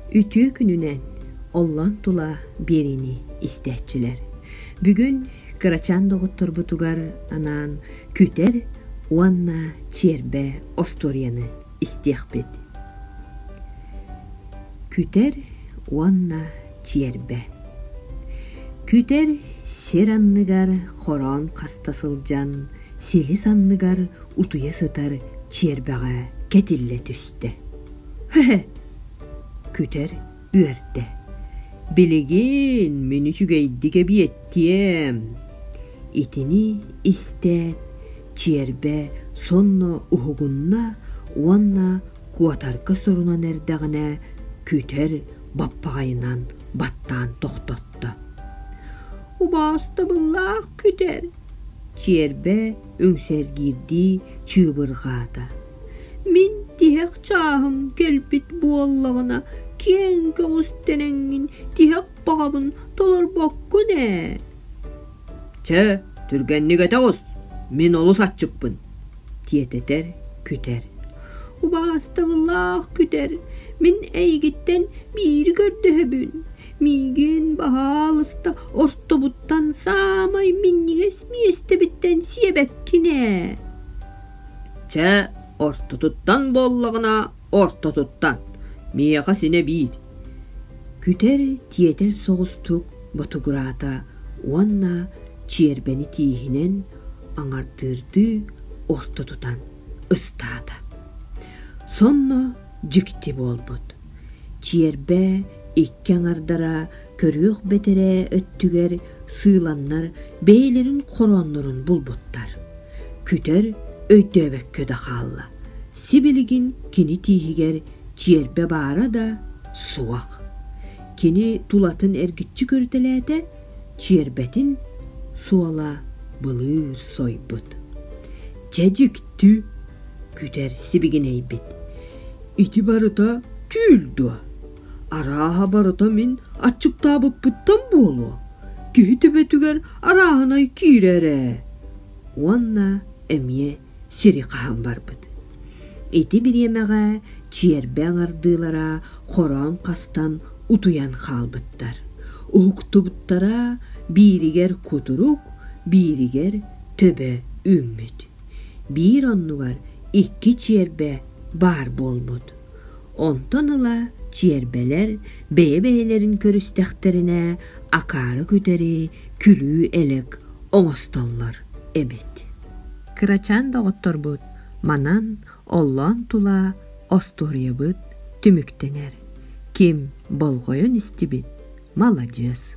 Үтүө күнүнэн оллон тула биэриини истээччилэр! Бүгүн кырачаан доҕотторбутугар анаан күтэр уонна чиэрбэ остуоруйаны истиэхпит. Күтэр уонна чиэрбэ Күтэр сир анныгар хороон хаста сылдьан силис анныгар утуйа сытар чиэрбэҕэ кэтиллэ түстэ. киирдэ. Күтэр үөрдэ. Билигин мин үчүгэйдик эбиэттиэм. Итини истээт, чиэрбэ сонно уһугунна уонна куотарга сорунан эрдэҕинэ күтэр баппаҕайынан баттаан тохтотто. Убаастабыллаах күтэр! Чиэрбэ үҥсэргиирдии чыыбырҕаата. Мин тиһэх чааһым кэлбит буоллаҕына киэҥ көҕус тэнэҥҥин тиһэх баҕабын толорбоккун ээ Чэ, түргэнник этэ оҕус, мин олус аччыкпын, диэтэтэр күтэр. Убаастабыллаах күтэр, мин эйигиттэн биири көрдөһөбүн. Миигин баһаалыста ортобуттан саамай минньигэс миэстэбиттэн сиэбэккин ээ Чэ, ортотуттан буоллаҕына, ортотуттан, миэхэ синэ биир, күтэр тиэтэл соҕустук ботугураата уонна чиэрбэни тииһинэн аҥардыырдыы орто тутан ыстаата. Сонно дьикти буолбут. Чиэрбэ икки аҥардара көрүөх бэтэрээ өттүгэр сыыланнар бэйэлэрин хорооннорун булбуттар. Күтэр өйдөөбөккө да хаалла. Сибилигин кини тииһигэр чиэрбэ баара да суох. Кини тулатын эргиччи көрүтэлээтэ, чиэрбэтин суола былыыр сойбут. Чэдьиктүү күтэр сибигинэйбит. Ити барыта түүл дуо? Арааһа барыта мин аччыктаабыппыттан буолуо, киһи төбөтүгэр арааһынай киирэр ээ. Уонна эмиэ сири хаһан барбыт. Ити бириэмэҕэ чиэрбэ аҥардыылара хороон хастан утуйан хаалбыттар. Уһуктубуттара бииригэр кутурук, бииригэр төбө үүммүт. Биир оннугар икки чиэрбэ баар буолбут. Онтон ыла чиэрбэлэр бэйэ-бэйэлэрин көрүстэхтэринэ акаары күтэри күлүү элэк оҥостоллор эбит. Кырачаан доҕотторбут манан оллоон тула остуоруйабыт түмүктэнэр. Ким болҕойон истибит – маладьыас.